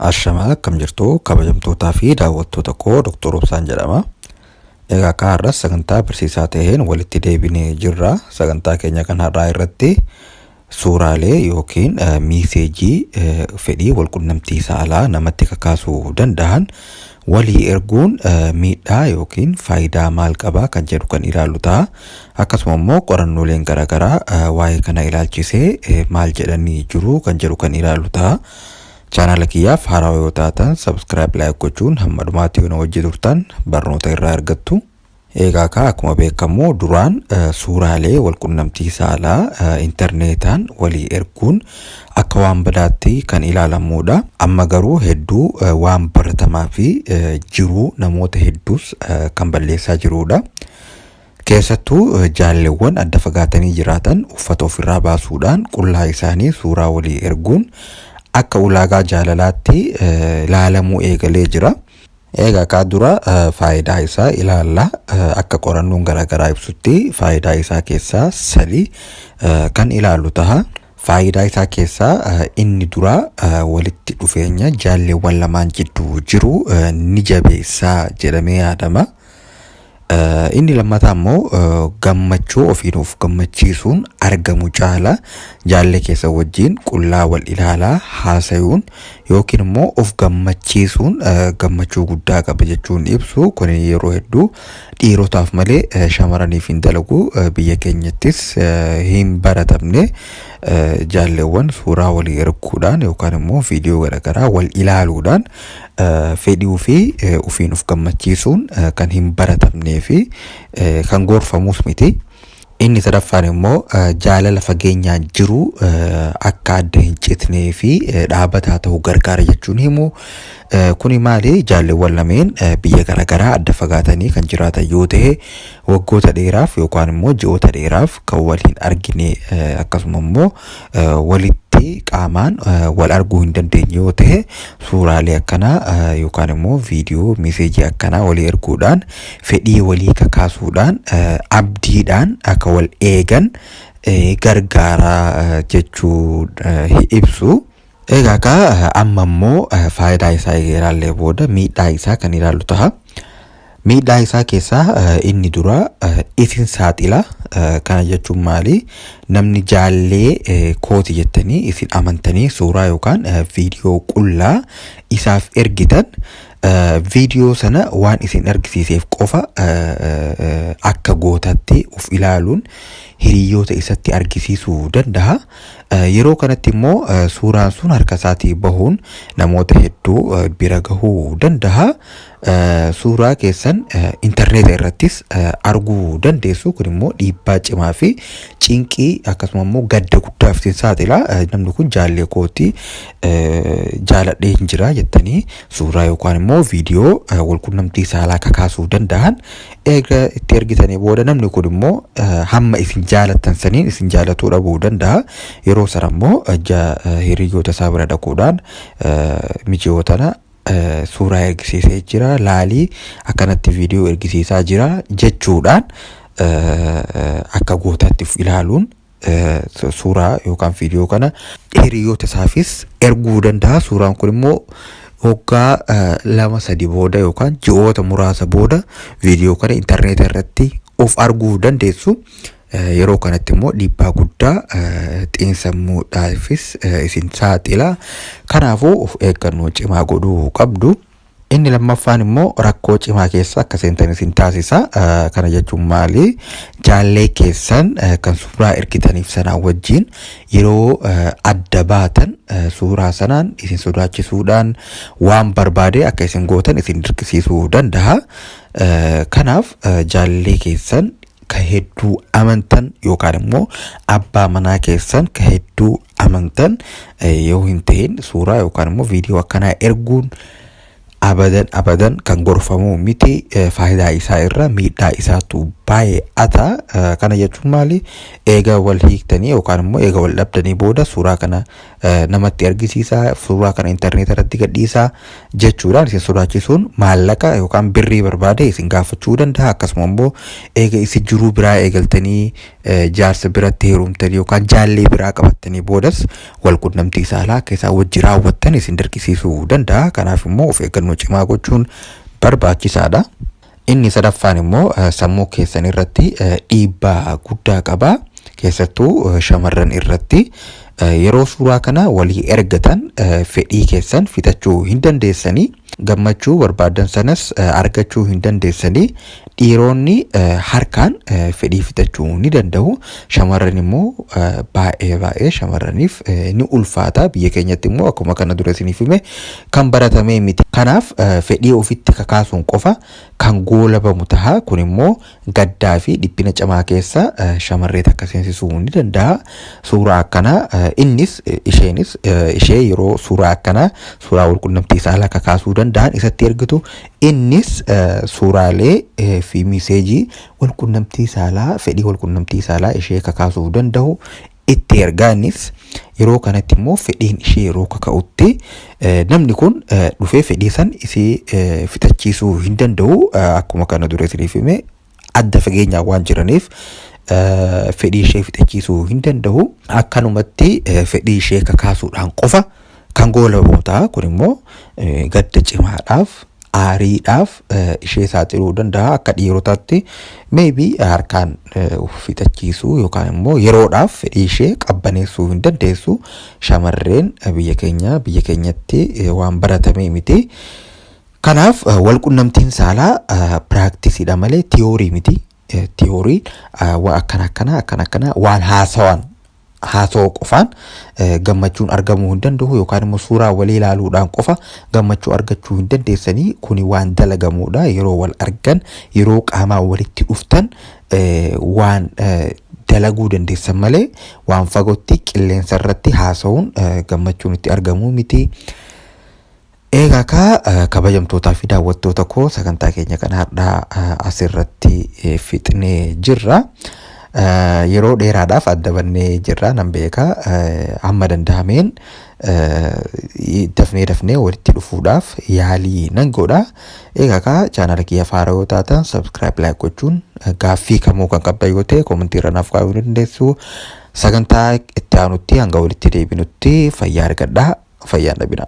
Ashamaa akkam jirtu kabajamtootaa fi daawwattoota koo Dr. Obsaan jedhama. Egaa akka har'as sagantaa barsiisaa ta'een walitti deebinee jirra. Sagantaa keenya kan har'aa irratti suuraalee yookiin miiseejii fedhii walqunnamtii saalaa namatti kakaasuu danda'an Walii erguun miidhaa yookiin faayidaa maal qaba kan jedhu kan ilaallu ta'a. Akkasuma immoo qorannooleen garaagaraa waa'ee kana ilaalchisee maal jedhanii jiru kan jedhu kan ilaallu ta'a. Chaanaala kiyyaaf haaraa yoo taatan subscribe like gochuun hamma dhumaatti yoo na wajji turtan barnoota irraa argattu. Eegaa kaa akkuma beekamu duraan suuraalee walqunnamtii saalaa intarneetaan walii erguun akka waan badaatti kan ilaalamuudha. Amma garuu hedduu waan baratamaa fi jiruu namoota hedduus kan balleessaa jiruudha. Keessattuu jaalleewwan adda fagaatanii jiraatan uffata ofirraa baasuudhaan qullaa isaanii suuraa walii erguun akka ulaagaa jaalalaatti ilaalamuu eegalee jira. Egaa kaa dura faayidaa isaa ilaalla. Akka qorannoon garaagaraa ibsutti faayidaa isaa keessaa sadii kan ilaalu taha. Faayidaa isaa keessaa inni duraa walitti dhufeenya jaalleewwan lamaan jidduu jiru ni jabeessaa jedhamee yaadama. Inni lammataa immoo gammachuu ofiin of gammachiisuun argamu caala jaallee keessa wajjin qullaa wal ilaalaa haasayuun yookiin immoo of gammachiisuun gammachuu guddaa qaba jechuun ibsu kun yeroo hedduu dhiirotaaf malee shamaraniif hin dalagu biyya keenyattis hin baratamne jaalleewwan suuraa walii erguudhaan yookaan immoo viidiyoo garaagaraa wal ilaaluudhaan Fedhii ofii ofiin of gammachiisuun kan hin baratamnee fi kan gorfamuus miti. Inni sadaffaan immoo jaalala fageenyaan jiru akka adda hin citnee fi dhaabataa ta'u gargaara jechuun himu. Kuni maali? Jaalleewwan lameen biyya garaagaraa adda fagaatanii kan jiraatan yoo ta'e waggoota dheeraaf yookaan immoo ji'oota dheeraaf kan wal hin argine akkasuma immoo walitti qaamaan wal arguu hin dandeenye yoo ta'e suuraalee akkanaa yookaan immoo viidiyoo meeseejii akkanaa walii erguudhaan fedhii walii kakaasuudhaan abdiidhaan akka wal eegan gargaaraa jechuu ibsu. Egaa kaa amma immoo faayidaa isaa ilaallee booda miidhaa isaa kan ilaallu taha. Miidhaa isaa keessaa inni dura isin saaxila. Kana jechuun maali? Namni jaallee kooti jettanii isin amantanii suuraa yookaan viidiyoo qullaa isaaf ergitan viidiyoo sana waan isin argisiiseef qofa akka gootatti of ilaaluun hiriyoota isatti argisiisuu danda'a. Yeroo kanatti immoo suuraan sun harka isaatii bahuun namoota hedduu bira gahuu danda'a. Suuraa keessan intarneeta irrattis arguu dandeessu. Kun immoo dhiibbaa cimaa fi cinqii akkasuma immoo gadda guddaaf isin saaxila. Namni kun jaallee kooti jaaladhee hin jira jettanii suuraa yookaan immoo viidiyoo walqunnamtii saalaa kakaasuu danda'an Eega itti ergitanii booda namni kun immoo hamma isin jaalattan saniin isin jaalatuu dhabuu danda'a. Yeroo sana immoo hiriyyoota isaa bira dhaquudhaan miji'oo tana suuraa ergisiisee jira laalii akkanatti viidiyoo ergisiisaa jira jechuudhaan akka gootaatti ilaaluun suuraa yookaan viidiyoo kana hiriyoota isaafis erguu danda'a. Suuraan kun immoo waggaa lama sadi booda yookaan ji'oota muraasa booda viidiyoo kana intarneetii irratti of arguu dandeessu. Yeroo kanatti immoo dhiibbaa guddaa xiinsammuudhaafis isin saaxila. Kanaafuu of eeggannoo cimaa godhuu qabdu. Inni lammaffaan immoo rakkoo cimaa keessa akka seentan isin taasisa. Kana jechuun maali? Jaallee keessan kan suuraa ergitaniif sanaa wajjin yeroo adda baatan suuraa sanaan isin sodaachisuudhaan waan barbaade akka isin gootan isin dirqisiisuu danda'a. Kanaaf jaallee keessan ka hedduu amantan yookaan immoo abbaa manaa keessan ka hedduu amantan eh, yoo hin ta'in suuraa yookaan immoo viidiyoo akkanaa erguun abadan abadan kan gorfamuu miti eh, faayidaa isaa irra miidhaa isaatu baay'ata Eh, kana jechuun maali eega wal hiiktanii yookaan immoo eega wal dhabdanii booda suuraa kana eh, namatti argisiisaa suuraa kana intarneeta irratti gadhiisaa jechuudhaan isin sodaachisuun maallaqa yookaan birrii barbaade isin gaafachuu danda'a akkasuma immoo eega isin jiruu biraa eegaltanii eh, jaarsa biratti heerumtanii yookaan jaallee biraa qabattanii boodas wal qunnamtii saalaa akka isaa wajji raawwattan isin dirqisiisuu danda'a kanaaf immoo of eeggannoo cimaa gochuun barbaachisaadha. Inni sadaffaan immoo sammuu keessan irratti dhiibbaa guddaa qaba. Keessattuu shamarran irratti yeroo suuraa kana walii ergatan fedhii keessan fixachuu hin dandeessanii gammachuu barbaaddan sanas argachuu hin dandeessanii dhiiroonni harkaan fedhii fixachuu ni danda'u shamarran immoo baay'ee baay'ee shamarraniif ni ulfaata biyya keenyatti immoo akkuma kana dura isiniif hime kan baratamee miti. Kanaaf fedhii ofitti kakaasuun qofa kan goolabamu taha. Kun immoo gaddaa fi dhiphina cimaa keessa shamarree takka seensisuu ni dandaha. Suuraa akkanaa innis isheenis ishee yeroo suuraa akkanaa suuraa walqunnamtii saalaa kakaasuu dandahan isatti ergitu innis suuraalee fi miseejii walqunnamtii saalaa fedhii walqunnamtii saalaa ishee kakaasuuf dandahu itti ergaa innis yeroo kanatti immoo fedhiin ishee yeroo kaka'utti namni kun dhufee fedhii san isii fixachiisuu hin danda'u akkuma kana dura isiniif hime adda fageenyaa waan jiraniif fedhii ishee fixachiisuu hin danda'u akkanumatti fedhii ishee kakaasuudhaan qofa Kan goolabootaa kun immoo gadda cimaadhaaf aariidhaaf ishee saaxiluu danda'a akka dhiirotaatti meebi harkaan fixachiisuu yookaan immoo yeroodhaaf fedhii ishee qabbaneessuu hin dandeessu shamarreen biyya keenya biyya keenyatti waan baratamee miti. Kanaaf walqunnamtiin saalaa piraaktisidha malee tiyoorii miti. Tiyoorii waa akkana akkana akkana akkana waan haasawan haasawuu qofaan gammachuun argamuu hin danda'u yookaan immoo suuraa walii ilaaluudhaan qofa gammachuu argachuu hin dandeessanii kuni waan dalagamuudha yeroo wal argan yeroo qaamaa walitti dhuftan waan dalaguu dandeessan malee waan fagootti qilleensa irratti haasawuun gammachuun itti argamuu miti. Eegaa kaa eh, kabajamtootaa fi daawwattoota koo sagantaa keenya kan har'aa eh, asirratti eh, fixnee jirra. Eh, Yeroo dheeraadhaaf adda bannee jirra nan beeka. Eh, Hamma danda'ameen eh, dafnee dafnee walitti dhufuudhaaf yaalii nan godha. Eegaa kaa chaanala kiyya faaraa yoo taatan subscribe like gochuun eh, gaaffii kamuu kan qabdan yoo ta'e komentii irra naaf kaa'uu ni dandeessu. Sagantaa itti aanutti hanga walitti deebinutti fayyaa argadhaa fayyaan dhabinaa.